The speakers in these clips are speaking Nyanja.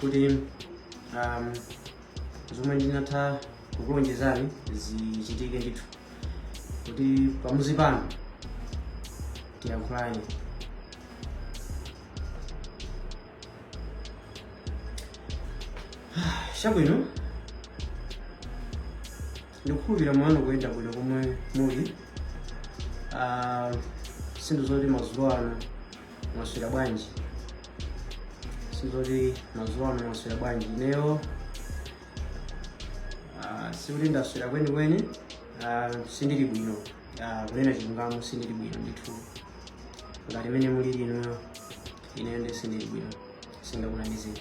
kuti um, zomwe ndinatha kukulonjezani zichitike ndithu kuti pamuzi pano tiyankhulane chabwino ndikukhulupirira mwanu ukuyenda bwino komwe muli Ah, si nthu zoti madzulo ano mwaswera bwanji sizoti madzulo ano mwaswera bwanji ineyo ah, sikuti ndaswera kwenikweni ah, sindili bwino Ah, kunena chilungamo sindili bwino ndithu ngati mene mulili inuyo ineyo ndi sindili bwino singakunamizeni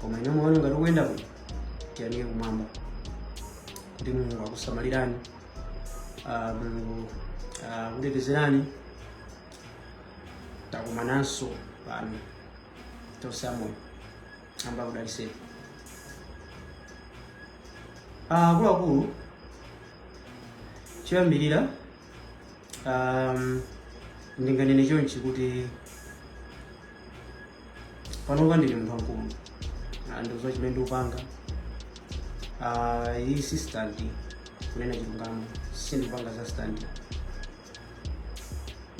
koma inuyo moyo ngati ukuyenda bwino tiyamike kumwamba kuti mulungu akusamalirani ah, mulungu akutetezerani takumananso pano tonse amoyo amba kudaliseni akuluakulu choyambirira um, ndinganene chonchi kuti panopa ndili munthu wamkulu Ah, ndidziwa chimene ndikupanga Ah, iyi si standi kunena chilungamo sindikupanga za standi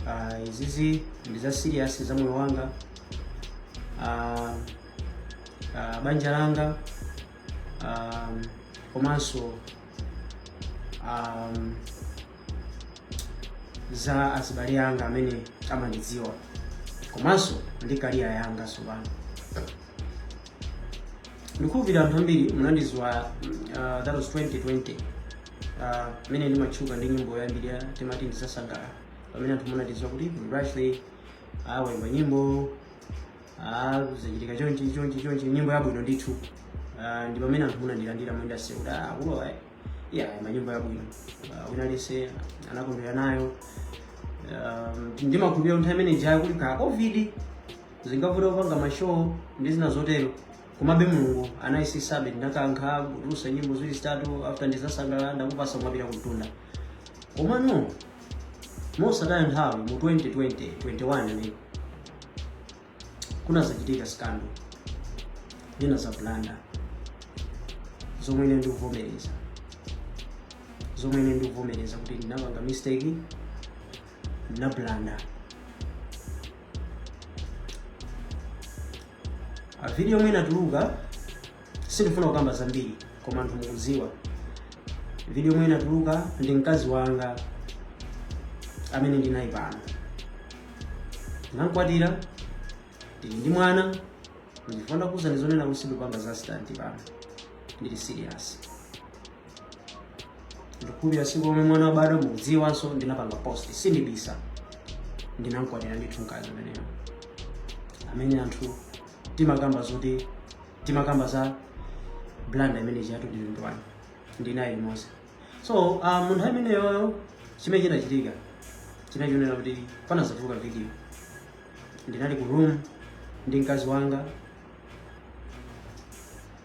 Ah, izizi ndi za serious za moyo wanga Ah, ah, banja langa ah, komanso um, za azibale anga amene amandidziwa komanso ndi career yanga tsopano ndikukhulupirira anthu ambiri munandidziwa uh, that was 2020 Ah, mmene ndimatchuka ndi nyimbo yambiri ija timati ndidzasangalala pamene anthu munandidziwa kuti brightly waimba nyimbo ah, zachitika chonchi chonchi chonchi nyimbo yabwino ndithu Ah, ndi pamene anthu munandilandira mundase kuti ah, ulowa ya ima nyimbo yabwino Ah, wina aliyense anakondwera nayo Um, ndimakhulupirira nthawi imene ija kuli ka covid zinkavuta kupanga mashow ndi zina zotero Komabe Mulungu anayesetsabe, ndinakankha kutulutsa nyimbo ziwiri zitatu after ndidzasangalala ndakupatsa kumapita kumtunda. Komano mosataya nthawi mu 2020 21 mmene kunadzachitika scandal ndinadzablanda zomwe ine ndikuvomereza zomwe ine ndikuvomereza kuti ndinapanga mistake ndinablanda a video yomwe inatuluka sindifuna kukamba zambiri koma anthu mukudziwa video yomwe inatuluka ndi mkazi wanga amene ndinaye pano ndinamkwatira ndili ndi mwana ndifuna kuuza ndizonena kuti sindikupanga za stanti pano ndili serious ndikukhulupirira siku lomwe mwana wabadwa mukudziwanso ndinapanga post sindibisa ndinamkwatira ndithu mkazi ameneyo amene anthu timakamba zoti timakamba za blanda imene chiyatu ndilindwani ndinaye limodzi so uh, munthu ameneyoyo chimene chinachitika chinachionera kuti panazatuluka video ndinali ku room ndi mkazi wanga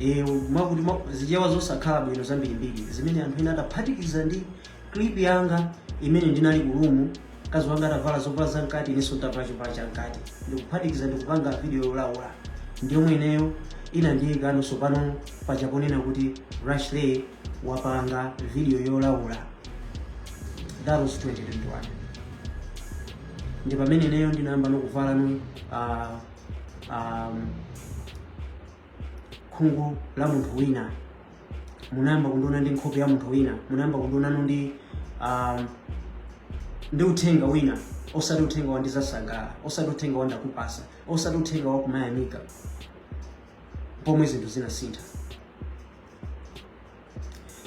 Eh, mwakuti mwa- zichewa zosakhala bwino zambirimbiri zimene anthu ena adaphatikiza ndi clip yanga imene ndinali ku room mkazi wanga atavala zovala za mkati inenso nditavala chovala cha mkati ndikuphatikiza ndikupanga video yolaula ndi yomwe ineyo inandiyikano sopano paja ponena kuti rashley wapanga video yolaula that was 2021 ndi pamene ineyo ndinayambano kuvala no uh, um, khungu la munthu wina munayamba kundiona ndi nkhope ya munthu wina munayamba kundionano ndi um, ndi uthenga wina osati uthenga wandizasangala osati uthenga wandakupasa osati uthenga wakumayamika pomwe zinthu zinasintha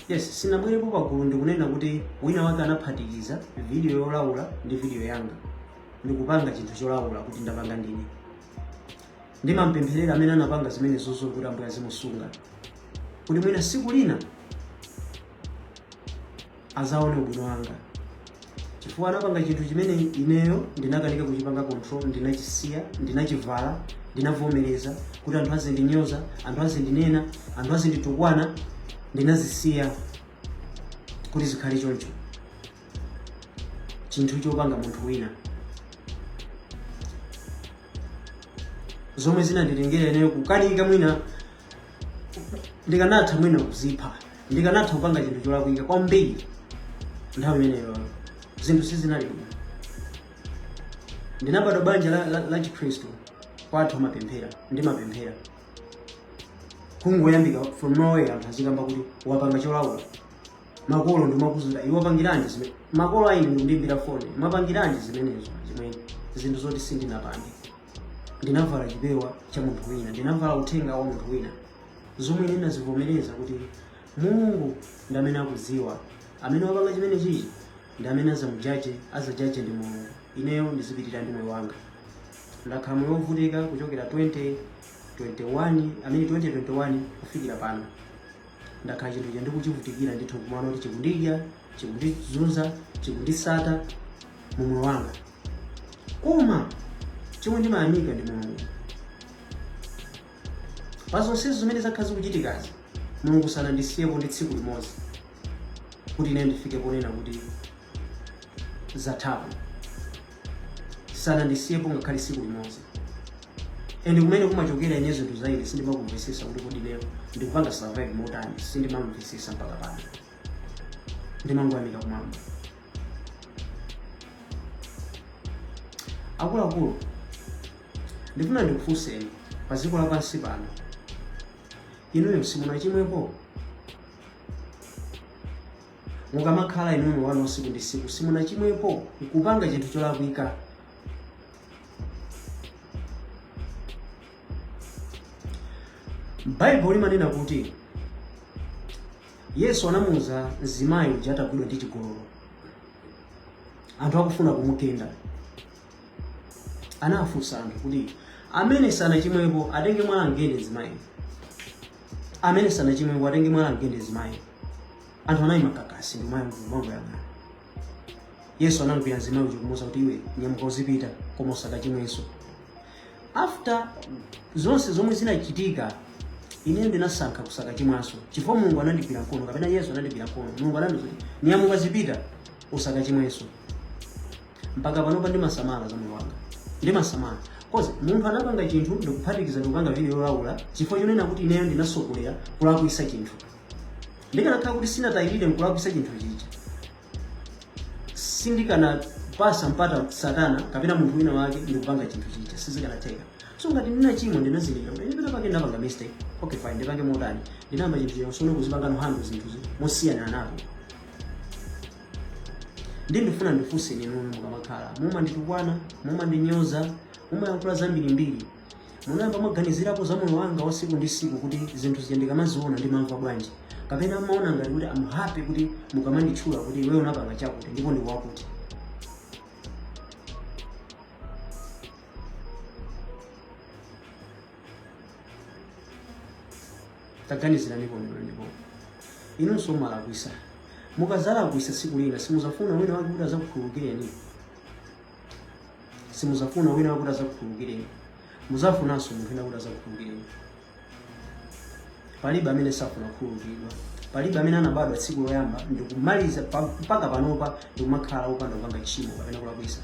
Yes, sinabwerepo pagulu ndikunena kuti wina wake anaphatikiza video yolaula ndi video yanga ndikupanga chinthu cholaula kuti ndapanga ndine. Ndimampempherera amene anapanga zimenezozo kuti Ambuye azimusunga kuti mwina siku lina azaone ubwino wanga chifukwa anapanga chinthu chimene ineyo ndinakanika kuchipanga control ndinachisiya ndinachivala ndinavomereza kuti anthu azindinyoza anthu azindinena anthu azinditukwana ndinazisiya kuti zikhale choncho chinthu chopanga munthu wina zomwe zinanditengera ineyo kukanika mwina ndikanatha mwina kuzipha ndikanatha kupanga chinthu cholakwika kwambiri nthawi imeneyo zinthu sizinali bwino ndinabadwa banja la, la, la chikhristu kwathu amapemphera ndimapemphera kungoyambika from nowhere anthu azikamba kuti wapanga cholaula makolo ndimakuzira iwe wapangiranji zimene makolo aine ndikundiimbira foni mwapangiranji zimenezo zimene zinthu zoti sindinapange ndinavala chipewa cha munthu wina ndinavala uthenga wa munthu wina zomwe ndinazivomereza kuti mulungu ndi amene akudziwa amene wapanga chimene chichi ndi amene azamujaje ndi mulungu ineyo ndizipitirira ndi moyo wanga ndakhala moyo wovutika kuchokera 2021 amene 2021 kufikira pano ndakhala chinthu icho ndikuchivutikira ndithu kumano kuti chikundidya chikundizunza chikundisata mu moyo wanga koma chomwe ndimayamika ndi mulungu pa zonsezo zimene zakhala zikuchitikazi mulungu sanandisiyepo ndi tsiku limodzi kuti ine ndifike ponena kuti zathapo sanandisiyepo ngakhale tsiku limodzi and kumene kumachokera ine zinthu za ine sindimakumvetsetsa kuti kodi lero ndikupanga survive motani sindimamvetsetsa mpaka pano ndimangoyamika kumwamba akuluakulu ndifuna ndikufunseni pa dziko lapansi pano inuyo simunachimwepo mukamakhala inuyo wanu tsiku ndi tsiku simunachimwepo nkupanga chinthu cholakwika baibulo limanena kuti Yesu anamuuza mzimayi uja atagwidwa ndi chigololo, anthu akufuna kumugenda, anafunsa anthu kuti amene sanachimwepo atenge mwala amgende mzimayi, amene sanachimwepo atenge mwala amgende mzimayi. Anthu anayima kakasi ndi miyala mmanja. Yesu anamgwira mzimayi uja kumuuza kuti iwe nyamuka uzipita koma usakachimwenso. After zonse zomwe zinachitika ine ndinasankha kusakachimwanso chifukwa mulungu anandigwira mkono kapena yesu anandigwira mkono mulungu anandiuza kuti nyamuka zipita usakachimwenso mpaka panopa ndimasamala za moyo wanga ndimasamala kozi munthu anapanga chinthu ndikuphatikiza ndikupanga video yolaula chifukwa chonena kuti ineyo ndinatsogolera kulakwisa chinthu ndikanakhala kuti sindinatayirire nkulakwisa chinthu chija sindikanapatsa mpata satana kapena munthu wina wake ndikupanga chinthu chija sizikanatheka so ngati ndinachimwa ndinazindikira kuti ndipita pake ndapanga mistake okay fine ndipange motani ndinayamba chinthu chija usone kuzipanga nohando zinthuzi mosiyana napo ndi ndifuna ndifunseni inu mukamakhala mumanditukwana mumandinyoza mumayankhula zambirimbiri Munayamba mwaganizirapo za moyo wanga wa tsiku ndi tsiku kuti zinthu zija ndikamaziona ndimamva bwanji? Kapena mumaona ngati kuti am happy kuti mukamanditchula kuti iwe unapanga chakuti ndipo ndi wakuti. Taganizirani pomwe ndipo. Inunso mumalakwisa. Mukazalakwisa tsiku lina simuzafuna wina wake kuti azakukhululukireni. simuzafuna wina wake kuti azakukhululukireni muzafunanso munthu wina kuti azakukhululukireni palibe amene safuna kukhululukidwa palibe amene anabadwa tsiku loyamba ndikumaliza pa- mpaka panopa ndikumakhala opanda kupanga tchimo kapena kulakwisa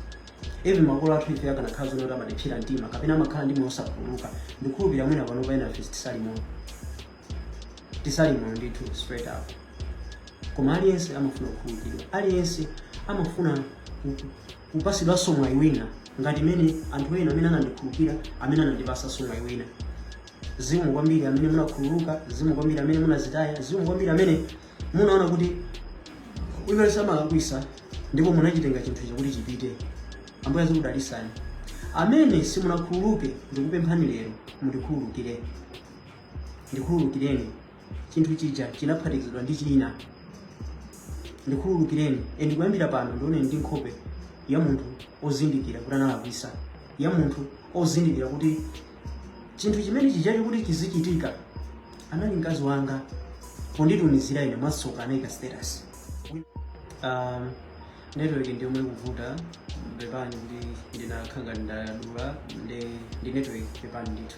even makolo athu ife akanakhala zonena kuti amatipsera mtima kapena amakhala ndi moyo osakhululuka ndikhulupirira mwina panopa ena ife sitili moyo tisali moyo ndithu straight up koma aliyense amafuna kukhululukidwa aliyense amafuna ku- ku- kupasidwanso mwayi wina ngati mmene anthu ena amene anandikhululukira amene anandipasanso mwayi wina zikomo kwambiri amene munakhululuka zikomo kwambiri amene munazitaya zikomo kwambiri amene munaona kuti iye amalakwisa ndipo munachitenga chinthu chakuti chipite ambuye azikudalisani amene simunakhululuke ndikupemphani lero mundikhululukire ndikhululukireni chinthu chija chinaphatikizidwa ndi china ndikhululukireni and kuyambira pano ndioneni ndi nkhope ya munthu ozindikira kuti analakwisa ya munthu ozindikira kuti chinthu chimene chijacho kuti chizichitika anali mkazi wanga ponditumizira ine mwasoka anayika status um, network ndi yomwe ikuvuta pepani kuti ndinakhala ngati ndadula ndi ndi network pepani ndithu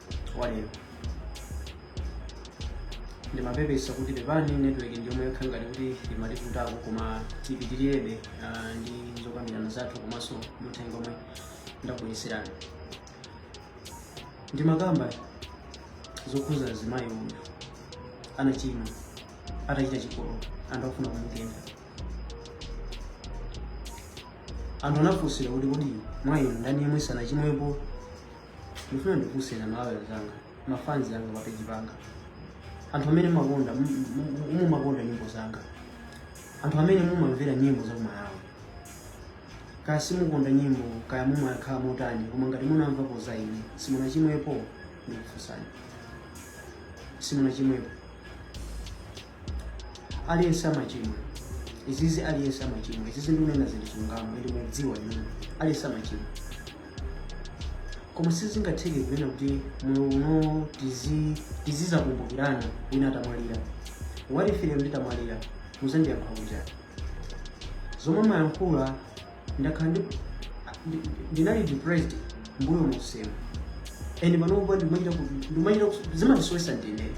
walero ndimapepesa kuti pepani network ndiyomwe yakhala ngati kuti imativutako koma tipitirirebe ah, ndi zokambirana zathu komanso ndi uthenga omwe ndakubwereserani ndimakamba zokhuza mzimayi yemwe anachimwa atachita chigololo anthu akufuna kumugenda anthu anafunsidwa kuti kodi mwa inu ndani yemwe sanachimwepo ndifuna ndikufunseni amalawi anzanga mafanzi anga papeji panga anthu amene mumakonda mumakonda nyimbo zanga anthu amene mumamvera nyimbo za kumalawi kaya simukonda nyimbo kaya mumakhala motani koma ngati munamvapo za ine simunachimwepo ndikufunsani simunachimwepo aliyense amachimwa izizi aliyense amachimwa izizi ndikunena zili chilungamo ende mukudziwa inuyo aliyense amachimwa koma sizingatheke kunena kuti moyo uno tizi- tizizakumbukirana wina atamwalira what if ine nditamwalira muzandiyankha kuti zomwe mayankhula ndakhala ndi- ndi- ndinali depressed mbuyo musemu and panopa ndimachita ku- ndimachita ku- zimandisowesa ndinene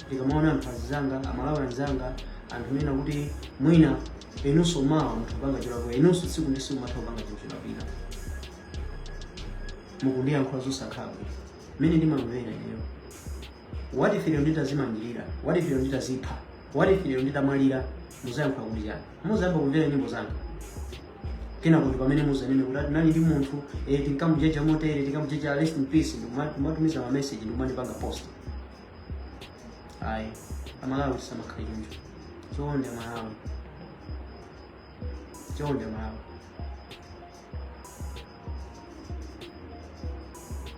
ndikamaona anthu anzanga amalawi anzanga anthu amene kuti mwina inunso mawa mutha kupanga cholakwa inunso tsiku ndi tsiku matha kupanga chinthu cholakwika mukundiyankhula zosakhala bwino mmene ndimamvera ineyo what if ineyo nditazimangirira what if ineyo nditazipha What if lero nditamwalira muzayankhula kuti chani? Muzayamba kumvera nyimbo zanga. Kenako ndi pamene muzanene kuti ati nali ndi munthu, tinkamujeja motere tinkamujeja rest in peace ndikuma- kumatumiza ma message ndikumandipanga post. Ayi, amalawi samakhala choncho. Chonde amalawi. Chonde amalawi.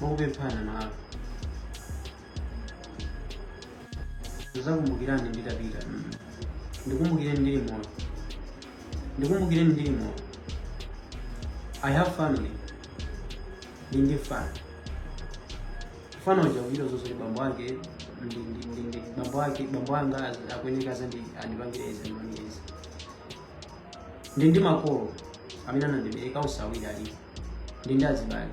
mwakupemphana nawo zizakumbukirani nditapita ndikumbukireni ndili moyo ndikumbukireni ndili moyo i have family ndi ndi fana fana uja kuchita zonse bambo ake ndi- ndi- ndi- ndi- bambo ake bambo anga az- akuyeneka zandi andipangire izi andipangire izi ndi ndi makolo amene anandibereka usawira ali ndi ndi azibale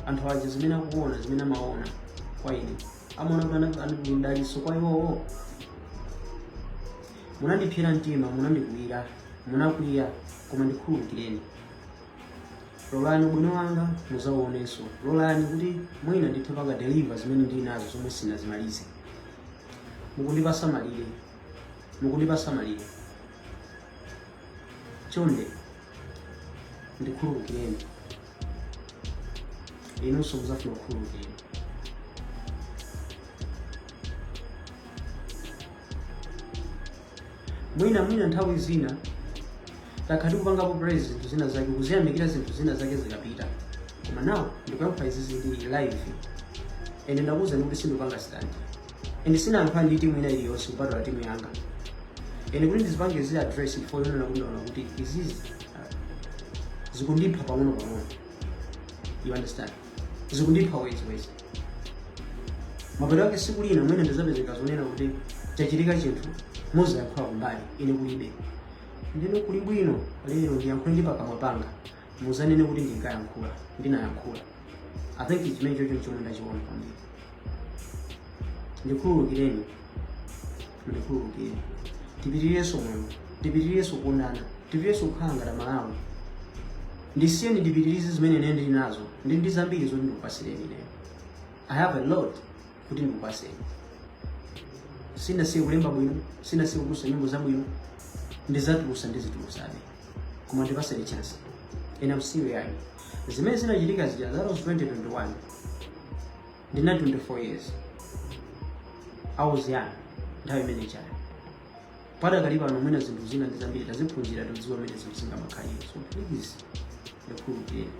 anthu aja zimene akuona zimene amaona kwa ine amaona kuti ndi mdalitso kwa iwowo munandipsera mtima munandikwiyira munakwiya koma ndikhululukireni lolani ubwino wanga muzauonenso lolani kuti mwina ndithe panga deliver zimene ndili nazo zomwe sinazimalize mukundipasa malire mukundipasa malire chonde ndikhululukireni inunso muzafuna kukhululukiridwa mwina mwina nthawi zina takhala tikupangapo praise zinthu zina zake kuziyamikira zinthu zina zake zikapita koma nawo ndikuyankha izi zili live ende ndakuwuzani kuti sindipanga stand and sinayankhula ndi timu ina iliyonse kupatula timu yanga and kuti ndizipange zi address before yonena kuti ndaona kuti izizi ah, zikundipha pang'ono pang'ono you understand zikundipha wezi wezi mapeto ake siku lina mwina ndizapezeka zonena kuti chachitika chinthu muzayankhula kumbali ine kulibe nde kuli bwino lero ndiyankhule ndi pakamwa panga Muzanene kuti ndinkayankhula, ndinayankhula. I think chimene chocho chomwe ndachiona kwambiri. Ndikhululukireni, ndikhululukireni. Tipitirirenso moyo, tipitirirenso kuonana, tipitirirenso kukhala ngati Malawi. Ndisiyeni ndipitirize zimene ine ndili nazo, ndi ndi zambiri zoti ndikupasireni ineyo. I have a lot. kuti ndikupaseni sinasiye kulemba bwino sinasiye kutulusa nyimbo zabwino ndizatulusa ndizitulusabe koma ndipaseni chance and I'm still young zimene zinachitika zija that was 2021 ndili 24 years I was young nthawi imene ijayo padakali pano mwina zinthu zina ndi zambiri taziphunzira todziwa mmene zinthu zingamakhalire so please ndikhululukireni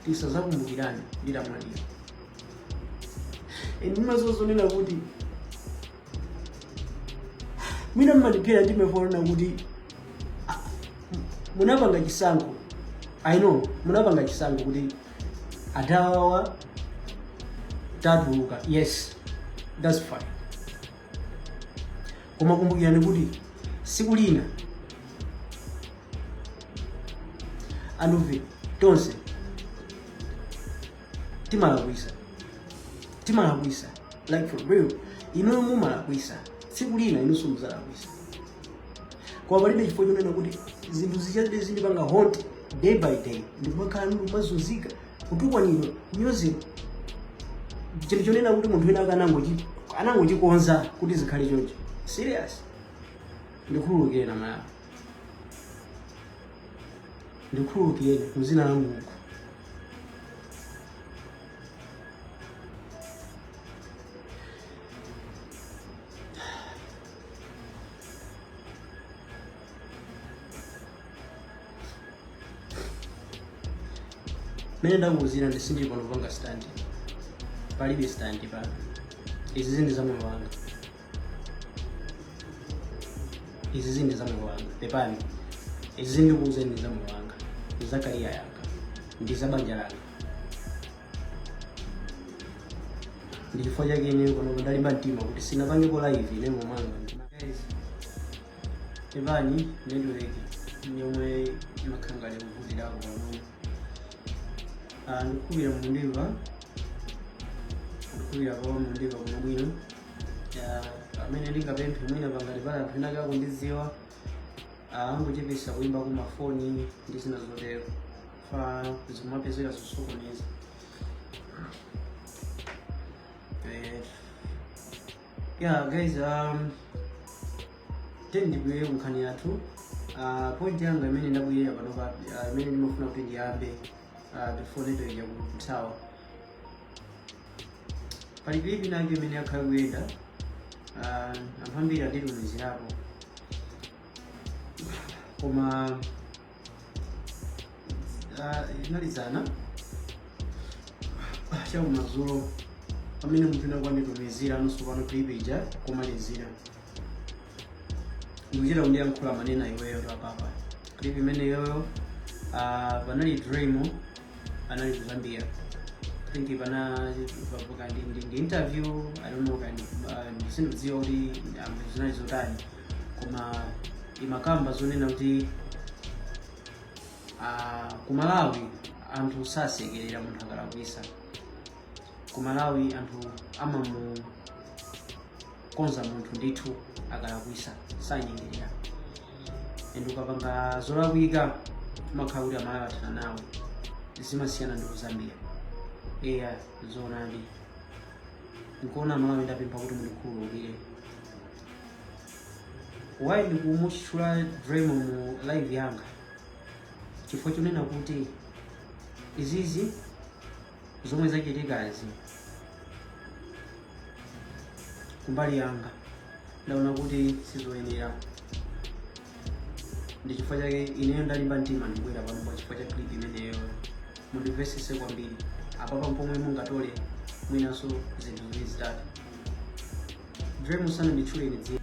tisazakumbukirane nditamwalira and mumazazonena kuti mwina mmandiphera ndimafuna ndinene kuti ah, munapanga chisankho i know munapanga chisankho kuti adawawa tawatuluka yes that's fine koma kumbukirani kuti siku lina anthufe tonse timalakwisa timalakwisa like for real inuyo mumalakwisa siku lina inunso muzalakwisa koma palibe chifukwa chonena kuti zinthu zizingokhalabe zindipanga haunt day by day ndikumakhala ndikumazunzika kutukwanidwa kunyozedwa chinthu chonena kuti munthu wina ake anangochi- anangochikonza kuti zikhale choncho serious ndikhululukireni malawi ndikhululukireni muzina la mulungu mene ndakuuzirani sindili pano kupanga stand palibe stand pano izizi ndi za moyo wanga izizi ndi za moyo wanga pepani izizi ndikuuzeni za moyo wanga ndi za career yanga ndi za banja langa ndi chifukwa chake ine pano ndalimba mtima kuti sindinapangepo live ine moyo wanga Guys, Pepani network ndi yomwe imakhala ngati kuvutirapo pang'ono. Ah, ndikukhulupirira mukundimva ndikukhulupirira pano mukundimva kuno bwinobwino Ah, chimene ndingapemphe mwina ngati pali anthu ena ake akundidziwa angochepesa kuimba kwa mafoni ndi zina zotero chifukwa zimapezeka zosokoneza Eh, yeah guys um tiyeni ndibwere kunkhani yathu uh, point yanga imene ndabwerera panopa uh, imene ndimafuna kuti ndiyambe uh, before network ija kuthawa pali clip inayake imene yakhala ikuyenda uh, anthu ambiri anditumizirapo koma Ah, linali dzana Ah, chakumadzulo pamene munthu wina wake wanditumizira angonso pano clip ija pomalizira ndikuchita kundiyankhula amvekere iweyo tapanga clip imeneyoyo ah, panali dream anali kuzambia I think panali paputa ndi ndi- ndi interview i don't know kaya ah, sindikudziwa kuti ah, zinali zotani koma imakamba zonena kuti ah, ku malawi anthu sasekerera munthu akalakwisa ku malawi anthu amamukonza munthu ndithu akalakwisa sanyengerera and ukapanga zolakwika umakhala kuti amalawi athana nawe zimasiyana ndi kuzambia eya zoonadi nkuona amalawi ndapempha kuti mundikhululukire why ndikumutchula dremo mu live yanga chifukwa chonena kuti izizi zomwe zachitikazi kumbali yanga ndaona kuti sizoyenera ndi chifukwa chake ineyo ndalimba mtima ndibwera pano pa chifukwa cha clip imeneyo mundimvesese kwambiri apapa mpomwe mungatole mwinanso zinthu ziwiri zitatu Dremo sananditchule ine dzina.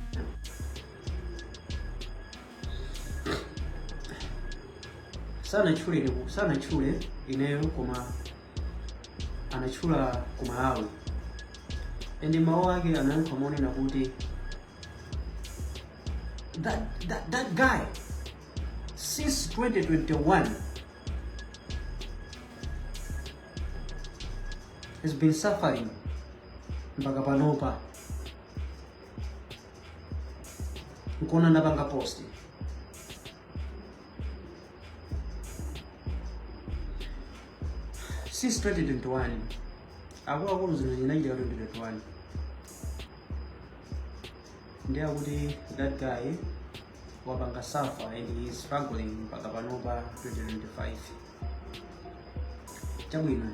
Sanatchule ine sanatchule ineyo koma anatchula ku Malawi. And mawu ake anayankha monena kuti that, that, that guy since 2021 has been suffering mpaka panopa nkuona ndapanga post since 2021 akuluakulu zino zinachitika 2021 ndiye kuti that guy wapanga suffer and he is struggling mpaka panopa 2025 chabwino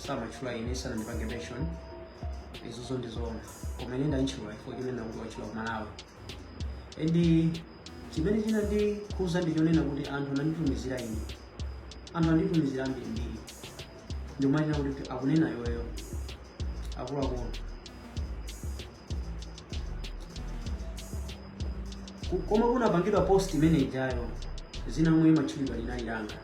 samatchula ine sanandipange mention izozo ndizoona koma ine ndantchula chifukwa chonena kuti watchula kumalawi and chimene chinandikhuza ndi chonena kuti anthu ananditumizira ine anthu anditumizira ambirimbiri ndi ma- kunena kuti akunena iweyo akuluakulu Ku- koma kunapangidwa post imene ijayo dzina limene limatchulidwa linali langa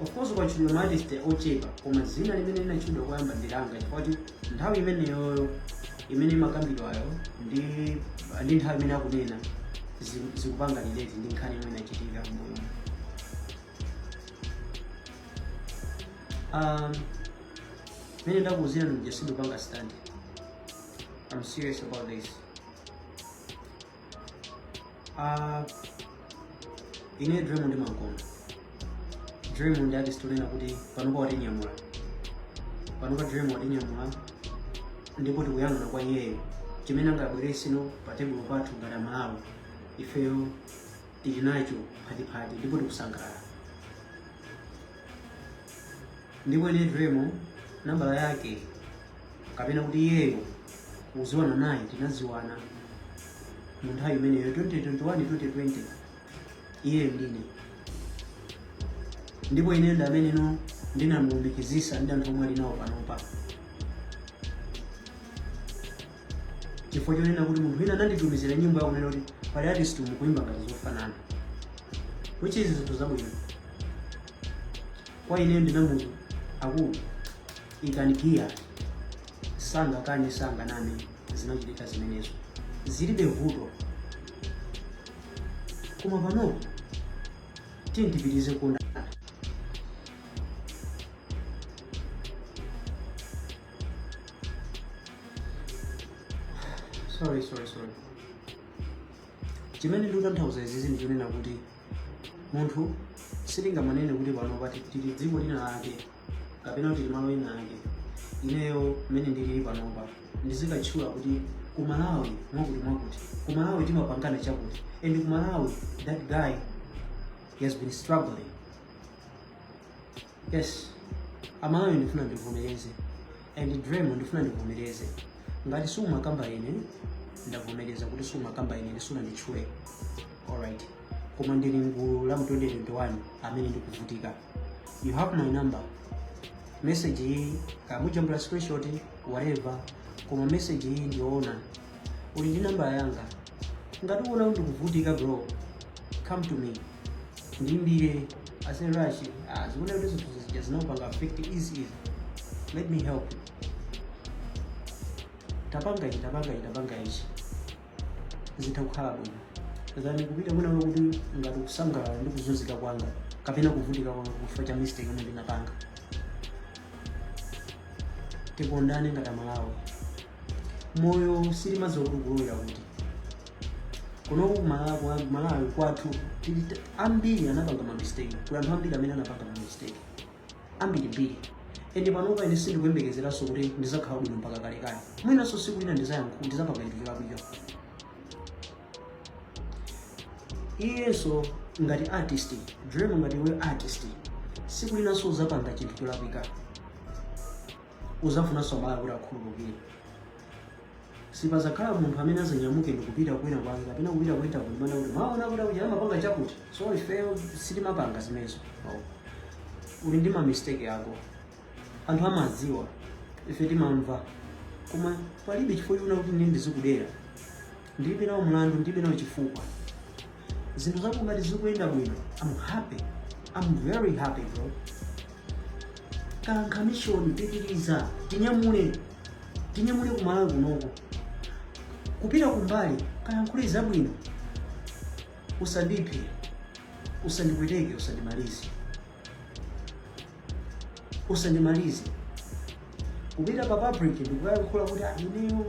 of course kwatchulidwa ma artist ochepa koma dzina limene linatchulidwa koyamba ndi langa chifukwa kuti nthawi imeneyoyo imene imakambidwayo ndi ndi nthawi imene akunena zi- zikupanga relate ndi nkhani imene inachitika m'moyo um, mene ndakuuzira ndikuja sindikupanga stunt i'm serious about this Ah, ine Driemo ndimam'konda Driemo ndi artist onena kuti panopa watinyamula panopa Driemo watinyamula ndipo tikuyang'ana kwa iyeyo chimene angabwereseno pa tebulo pathu ngati amalawi ifeyo tili nacho phatiphati ndipo tikusangalala ndipo ine Driemo nambala yake kapena kuti iyeyo kuziwana naye tinaziwana mu nthawi imeneyo 2021 2020 iye ndine ndipo ine ndi amene no ndinamulumikizisa ndi anthu omwe ali nawo panopa chifukwa chonena kuti munthu wina ananditumizira nyimbo yakunena kuti pali artist mukuimba ngati zofanana which is zinthu zabwino kwa ineyo ndinamuuza akulu ikanigiya sangakane sanganame zinachitika zimenezo zilibe vuto koma pano tiye tipitirize kukondana sorry sorry sorry chimene ndikutanthauza izizi ndichonena kuti munthu sitingamanene kuti panopa tili dziko lina lake kapena kuti tili malo ina ake ineyo mmene ndilili panopa ndizikatchula kuti ku malawi mwakuti mwakuti ku malawi timapangana chakuti and ku malawi that guy he has been struggling Yes, amalawi ndifuna ndivomereze and Driemo ndifuna ndivomereze ngati siumakamba ine ndavomereza kuti siumakamba ine sunanditchule alright koma ndili mgulu la mu 2021 amene ndikuvutika you have my number message iyi kaya mujambula screenshot whatever koma message iyi ndiyoona uli ndi nambala yanga ngati uona kuti ndikuvutika bro come to me ndiimbire aise Rashi ah, ndikuona kuti zinthu zija zinakupanga affect izizi let me help you tapanga ichi tapanga ichi tapanga ichi zitha kukhala bwino than kupita kwina uko kuti ngati ukusangalala ndi kuzunzika kwanga kapena kuvutika kwanga chifukwa cha mistake imene ndinapanga tikondane ngati amalawi moyo sitimadziwa kuti ukulowera kuti kuno kumala- kwa- kumalawi kwathu tili t- ambiri anapanga mamistake kuli anthu ambiri amene anapanga mamistake ambirimbiri ende panopa ine sindikuyembekezeranso kuti ndizakhala bwino mpaka kalekale mwinanso siku lina ndizayankhu ndizapanga chinthu cholakwika iyenso ngati artist Driemo ngati iwe artist siku linanso uzapanga chinthu cholakwika uzafunanso malawi kuti akhululukire Sipadzakhala munthu amene adzanyamuke ndi kupita kwina kwake kapena kupita ku interview kumanena kuti mwaona kuti akuti amapanga chakuti. So ifeyo sitimapanga zimenezo. Oh. Uli ndi ma mistake ako. Anthu amadziwa. Ife timamva. Koma palibe chifukwa choti kuti ndizikudera. Ndilibe nawo mlandu, ndilibe nawo chifukwa. zinthu zako ngati zikuyenda bwino am happy am very happy bro kankha mishoni pitiriza tinyamule tinyamule ku Malawi kunoko kupita kumbali kayankhule zabwino usandiphe usandipweteke usandimalize usandimalize kupita pa public ndikuyankhula kuti ineyo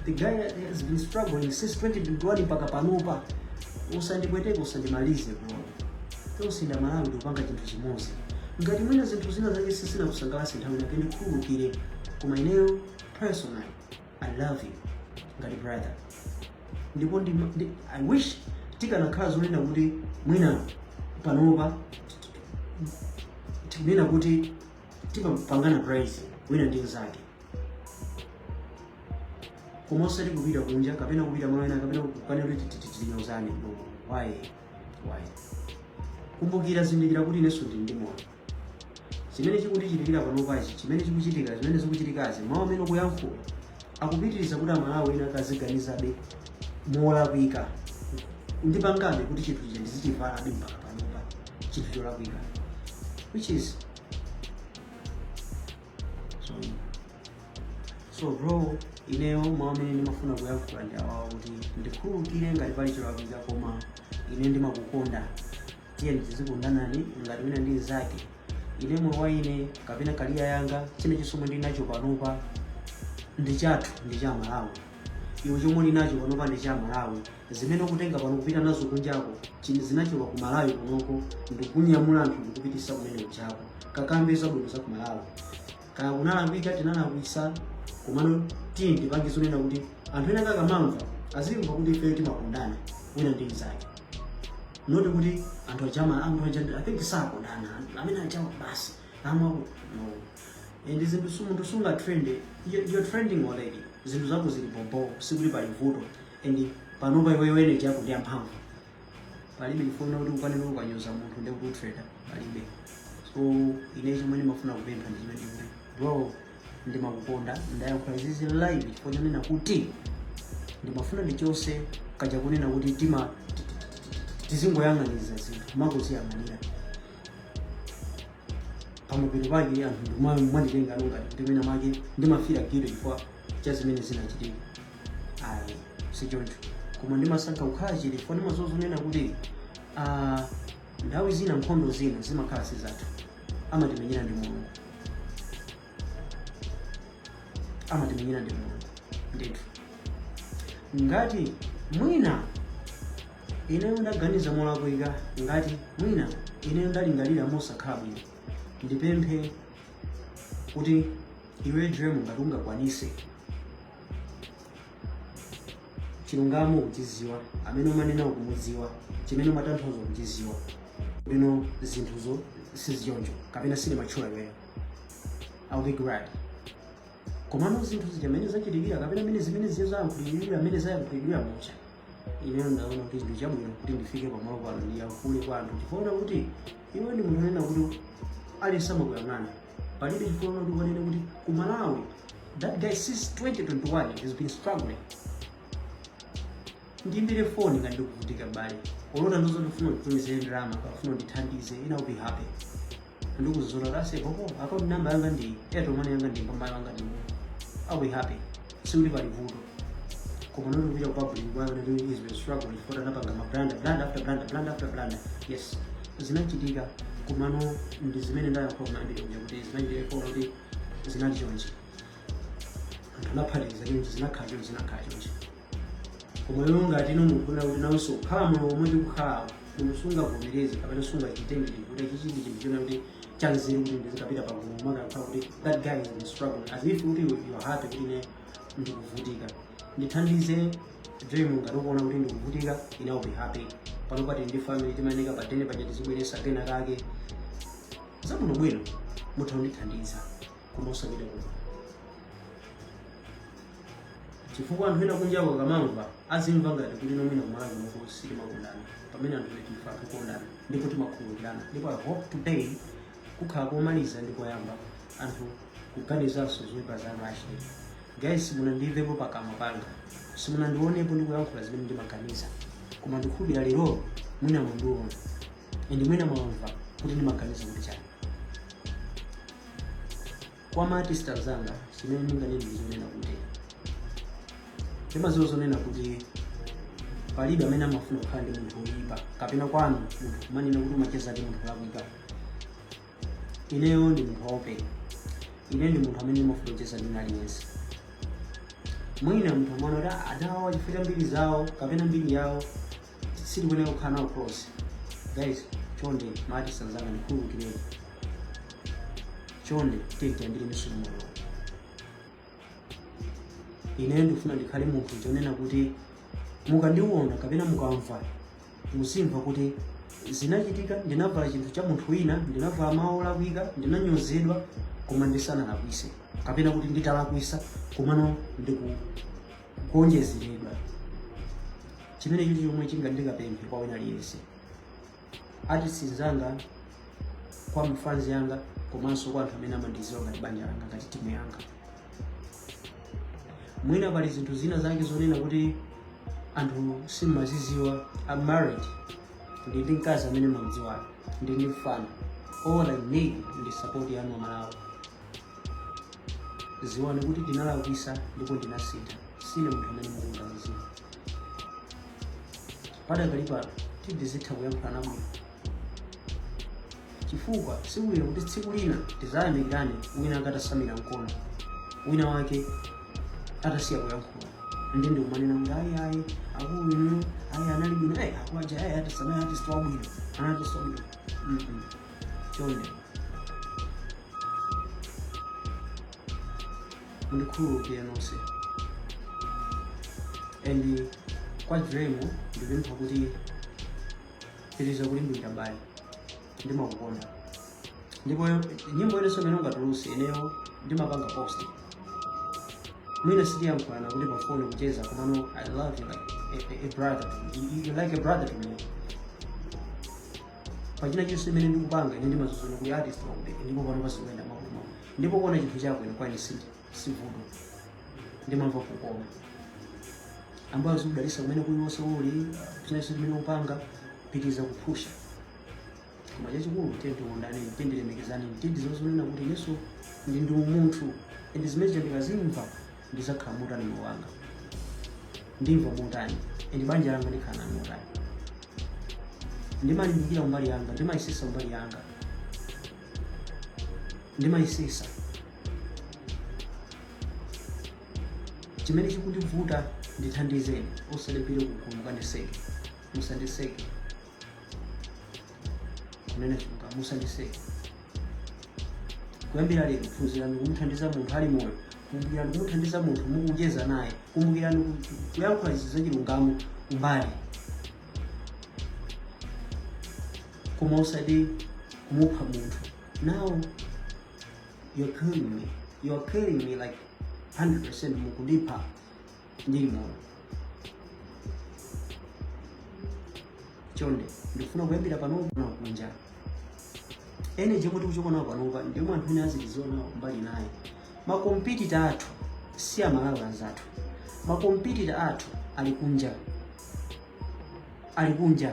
the guy has been struggling since 2021 mpaka panopa usandipweteke usandimalize bro tonse ndi amalawi ndikupanga chinthu chimodzi ngati mwina zinthu zina zake sisinakusangalatse nthawi inayake ndikhululukire koma ineyo personally i love you ngati brother ndipo ndi, ndi, i wish tikanakhala zonena kuti mwina panopa tikunena kuti timapangana praise wina ndi mzake koma osati kupita kunja kapena kupita malo ena kapena kukanena kuti titinyozane no why why kumbukira zindikira kuti inenso ndili ndi moyo chimene chikutichitikira panopachi chimene chikuchitika zimene zikuchitikazi mawu amene ukuyankhula akupititsa kuti amalawi ena akaziganizirabe molakwika ndipangabe kuti chinthu chija ndizichivalabe mpaka panopa chinthu cholakwika which is so, so bro ineyo mawu amene ndimafuna kuyankhula ndi awawa kuti ndikhululukire ngati pali cholakwika koma ine ndimakukonda tiye tizikondana ngati wina ndi mnzake ine moyo wa ine kapena kaliya yanga chilichonse chomwe ndili nacho panopa ndi chathu ndi cha amalawi iwe chomwe uli nacho panopa ndi cha amalawi zimene ukutenga pano kupita nazo kunjako chinthu zinachoka ku malawi kunoko ndikunyamula anthu ndikupititsa kumene ukupitako kakambe zabwino za ku malawi kaya kunalakwika tinalakwisa komano tiye tipange zonena kuti anthu ena akamamva azimva kuti ifeyo timakondana wina ndi mzake not kuti anthu aja ma anthu aja i think sakondana anthu amene ajawa basi amwa no and zinthu su- munthu sunga trend You're- you're trending already zinthu zako zili bobo sikuti pali vuto and panopa iweyo energy yako ndi yamphamvu palibe chifukwa kuti ukanene ukanyoza munthu kuti utrende palibe so ine chomwe ndimafuna kupempha ndi chonena kuti bro ndimakukonda ndayankhula izizi live chifukwa chonena kuti ndimafuna ndichotse kaja konena kuti tima tizingoyang'aniza zinthu mongoziyang'anira pamapeto pake anthu ndiye mwanditenga ngati kuti mwina mwake ndimafira giro chifukwa cha zimene zinachitika ayi sichoncho koma ndimasankha kukhala chete chifukwa ndimadziwa zonena kuti ah, nthawi zina nkhondo zina zimakhala sizathu amatimenyera ndi mulungu amatimenyera ndi mulungu ndithu ngati mwina ineyo ndaganiza molakwika ngati mwina ineyo ndalingalira mosakhala bwino ndipemphe kuti iwe dream ngati ungakwanise chilungamo ukuchidziwa amene umanena ukumudziwa chimene umatanthauza ukuchidziwa bwino zinthuzo sizichoncho kapena si ine umatchula iweyo I'll be glad komano zinthu zija mmene zachitikira kapena mmene zimene ziye zayankhulidwira mmene zayankhulidwira muja ineyo ndaona kuti ndi chabwino kuti ndifike pamalo pano ndiyankhule kwa anthu chifukwa kuti iwe ndi munthu onena kuti aliyense amakuyang'ana palibe chifukwa choti ukanene kuti ku malawi that guy since 2021 has been struggling ndiimbire foni ngati ndikuvutika bale olota ndizo ukufuna unditumizire ndalama ukafuna undithandize ine I will be happy ndikuzizona kuti ase popo akaunti namba yanga ndi airtel money yanga ndi mpamba yanga ndi i will be happy sikuti pali vuto koma not kupita ku public kunena kuti he's been struggling for anapanga ma brand brand after brand brand after brand yes zinachitika komano ndi zimene ndayankhula kumbuyo kuja kuti zinachitika kuona kuti zinali chonchi anthu anaphatikiza chonchi zinakhala chonchi zinakhala chonchi koma iwe ngati munthu wona kuti nawonso kukhala moyo womwe ndikukhalawo munthu sungavomereze kapena sungachitengere kuti chichi ndi chinthu chonena kuti chanzeru kuti ndizikapita pagulu nkumati that guy is in struggle as if kuti you you are happy kuti ne ndikuvutika ndithandize dream ngati ukuona kuti ndikuvutika ine I'll be happy panopa tili ndi family timayeneka pa den paja tizibweretsa kena kake zabwino bwino mutha kundithandiza koma usapite kuno chifukwa anthu ena kunjako akamamva azimva ngati kuti mwina kumalawi kuno sitimakondana pamene anthu enafe timakondana ndipo timakhululukirana ndipo i hope today kukhale komaliza ndi koyamba anthu kuganizanso zoipa za Rashid guys simunandimvepo pakamwa panga simunandionepo ndikuyankhula zimene ndimaganiza koma ndikhulupirira lero mwina mwandiona and mwina mwamva kuti ndimaganiza kuti chani kwa ma artist anzanga chimene ndinganene ndizonena kuti ndimaziwa zonena kuti palibe amene amafuna kukhala ndi munthu woyipa kapena kwanu munthu kumanena kuti umacheza ndi munthu wakuyipa ineyo ndi munthu waopen ine ndi munthu amene ndimafuna kucheza ndi aliyense mwina munthu amaona kuti adawa chifukwa cha mbiri zawo kapena mbiri yawo sindikuyenera kukhala nawo close guys chonde ma artist anzanga ndikhululukireni chonde tiyambire limodzi ineyo ndikufuna ndikhale munthu chonena kuti mukandiona kapena mukamva muzimva kuti zinachitika ndinavala chinthu cha munthu wina ndinavala mawu olakwika ndinanyozedwa koma ndisanalakwise kapena kuti nditalakwisa komano ndiku kuonjezeredwa chimene chili chomwe chinga ndikapemphe kwa wina aliyense artist nzanga kwa mafanzi anga komanso kwa anthu amene amandiziwa ngati banja langa ngati timu yanga mwina pali zinthu zina zake zonena kuti anthu simmaziziwa I'm married ndili ndi mkazi amene mmamdziwa ndili ndi mfana all I need ndi support yanu amalawi ziwani kuti ndinalakwisa ndipo ndinasintha sine munthu amene mukundiganizira padakali pano tizitha kuyankhulana bwino chifukwa sibwino kuti tsiku lina tizayamikirane wina wake atasamira mkono wina wake atasiya kuyankhula nde ndikumanena kuti ayi ayi akulu inu ayi anali bwino ayi akulu aja ayi artist ayi artist wabwino artist wabwino chonde mundikhululukire nonse and kwa jiremu ndipempha kuti pitiriza kulimbika m'bale ndimakukonda ndipo nyimbo iliyonse imene ungatuluse ineyo ndimapanga post mwina sitiyankhulana kuti pafoni kucheza komano i love you like a, a, a brother to me. You, you like a brother to me pa china chilichonse chimene ndikupanga ine ndimaziwa zonena kuti artist wakudeka ndipo pano pasikuenda mabwino ndipo kuona chinthu chako ine kwa ine sivuto ndimamva kukoma ambuye azikudalisa kwina kulikonse uli china chilichonse chimene upanga pitiriza kuphusha koma chachikulu tiyeni tikondane tiyeni tilemekezane tiyeni tiziwe zonena kuti inenso ndili ndi umunthu and zimene zitendeka zimva ndizakhala motani moyo wanga ndimva motani and banja langa ndikhala nalo motani ndimalimbikira mbali yanga ndimayesesa mbali yanga ndimayesesa chimene chikundivuta ndithandizeni musandiponye kugulu kandiseke musandiseke chimene chikuka musandiseke kuyambira lero phunzirani kumuthandiza munthu ali moyo kumbukirani kumuthandiza munthu mukucheza naye kumbukirani ku- kuyankhula izi zachilungamo kumbali koma usati kumupha munthu now you're killing me you're killing me like 100% mukundipha ndili moyo chonde ndikufuna kuyambira panopo na kunja energy yomwe tikuchoka nawo panopa ndi yomwe anthu ena azitiziona mbali naye makompitita athu si amalawi anzathu makompitita athu ali kunja ali kunja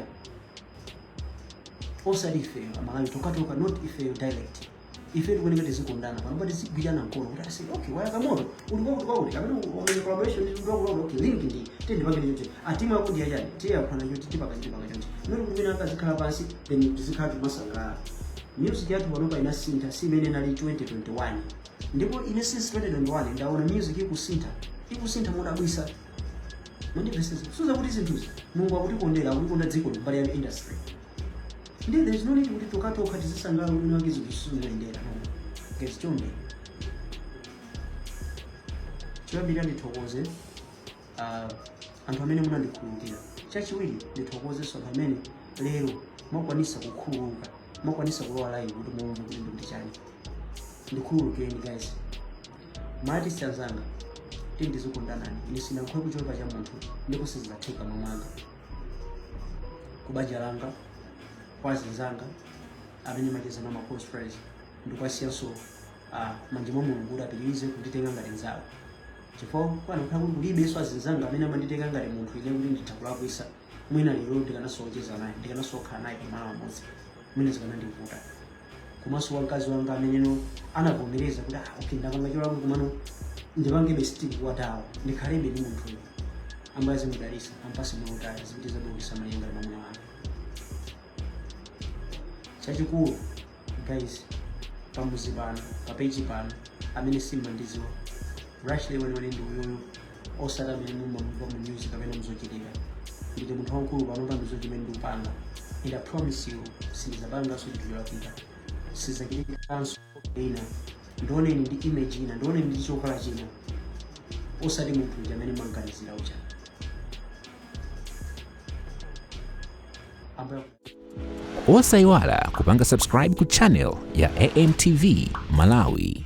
osati ifeyo amalawi tokhatokha not ifeyo direct ife tikuyeneka tizikondana panopa tizigwirana mkono kuti aise okay wayaka moto uli kwakuti kwakuti kapena wamenya collaboration ndi mtundu wakuti okay link ndi tiye ndipangire chonchi atimu yako ndiya chani tiye yakhwana chonchi tipanga chi tipanga chonchi not kumene akazikhala pansi then tizikhala kumasangalala music yathu panopa inasintha si imene inali 2021 ndipo ine since 2021 ndaona music ikusintha ikusintha modabwisa mandipeseza suza kuti zinthuzi mulungu akutikondera akutikonda dziko mbali ya industry ndiye there is no need kuti tokatokha tizisangalala kuti uje zinthu sizikuyendera guys chonde choyambirira ndithokoze ah, anthu amene munandikhululukira chachiwiri ndithokozenso anthu amene lero mwakwanisa kukhululuka mwakwanisa kulowa live kuti muwone kuti ndikuti chani ndikhululukireni guys ma artist anzanga tindizikondanani ine sinakhwe kuchoka cha munthu ndipo sizizatheka mmoyo mwanga kubanja langa kwa azinzanga amene macheza nawo maclose friends ndikuwasiyanso uh, mmanja mwa mulungu kuti apitirize kunditenga ngati nzawo chifukwa panakhala kuti kulibenso azinzanga amene amanditenga ngati munthu ine kuti nditha kulakwisa mwina lero ndikanasocheza naye ndikanasokhala naye pamalo amodzi mwina zikanandivuta komanso kwa mkazi wanga ameneno anavomereza kuti ah, okay wapanga cholakwa komano ndipangebe stick kwatawo ndikhalebe ndi munthuyo ambuye azimudalisa ampase moyo wautali azipitiza kukhala malinga na mwamuna wake chachikulu guys pamuzi pano papeji pano amene simmandiziwa rashley weniweni ndi uyuyu osati amene mumamva mu news kapena muzochitika ndine munthu wamkulu panopa ndizo chimene ndikupanga and i promise you sindizapanganso chinthu cholakwika sizachitikanso ine ndioneni ndi image ina ndioneni ndi chovala china osati munthu uja amene mumamganizira uja ambuye osayiwala kupanga subscribe ku channel ya amtv malawi